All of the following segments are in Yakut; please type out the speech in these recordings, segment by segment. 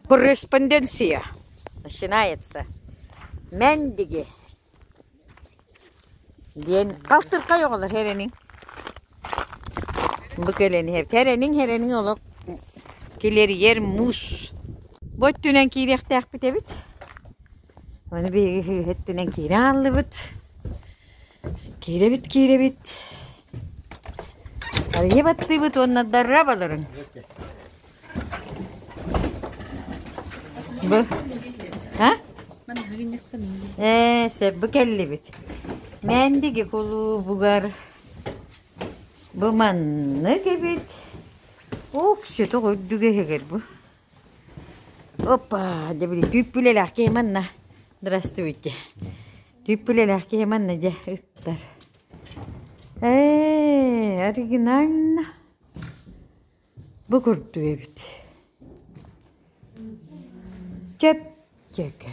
Корреспонденция начинается Мендиги диэн балтыркай оҕолор хэрэниҥ бу кэлэн хэрэниҥ хэрэниҥ олох килэрийэр муус бу өттүнэн киириэхтээхпит эбит Оны биһиги өттүнэн киирэ ааллыбыт. Киирэбит, киирэбит. Арыйа баттыыбыт уонна дорообаларыҥ! Бу а? Ээ, сөбү кэллибит. Мээндиги кулуубугар бу маннык эбит. Ух, сөтөх үрдүк эһэгэр бу. Опа, дебили, түүппүлэлээх киһи манна. Здравствуйте. Түүппүлэлээх киһи манна дьэ ыттар. Ээ, оригинально. Бу курдук эбит. Чэпчэкэ.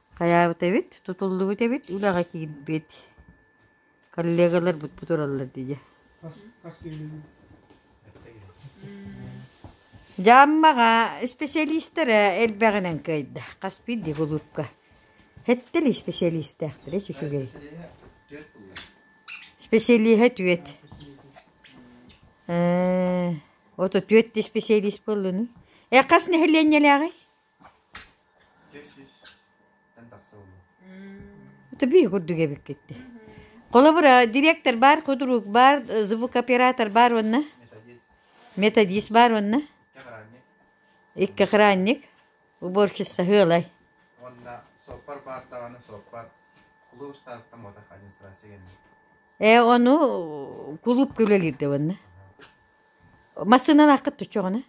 Хайаабыт эбит, тутуллубут эбит, үлэҕэ киирбит. Коллегаларбыт тураллар дии. Дьааммаҕа исписэлиистэрэ элбэҕинэн кыайда. Хас биирдии кулуупка. Хэттэл исписэлиистээхтэрэ үчүгэй. Исписэлииһэ түөт. Ээ, ото түөт исписэлиис буоллуну. Э, хас нэһилиэнньэлээҕий? Төбүү курдук эбиккит Холобура, директор бар, кудрук бар, звукооператор бар уонна? Методист бар уонна? Икки охранник. Уборщица хыылай. Уонна соппар бар даҕаны соппар кулууп стартам отах администрация гэнэ. Э ону кулууп күлөлүүрдэ уонна. Массыынан аққыт түччөҕүнэ?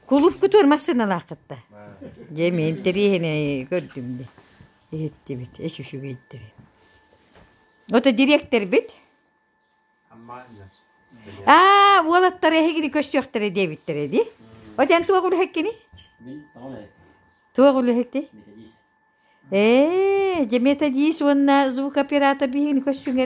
Кулуупкутугар массыыналаах кытта. Дьэ мин интэриэһинэй көрдүм дии. Иһиттибит эс үчүгэйдэри. Ото дириэктэрбит аа уолаттар эһигини көрсүөхтэрэ диэбиттэрэ дии. От эн туох үлэһиккиний? Туох үлэһиккиний? Ээ, дьэ методист уонна звукооператор биһигини көрсүҥэр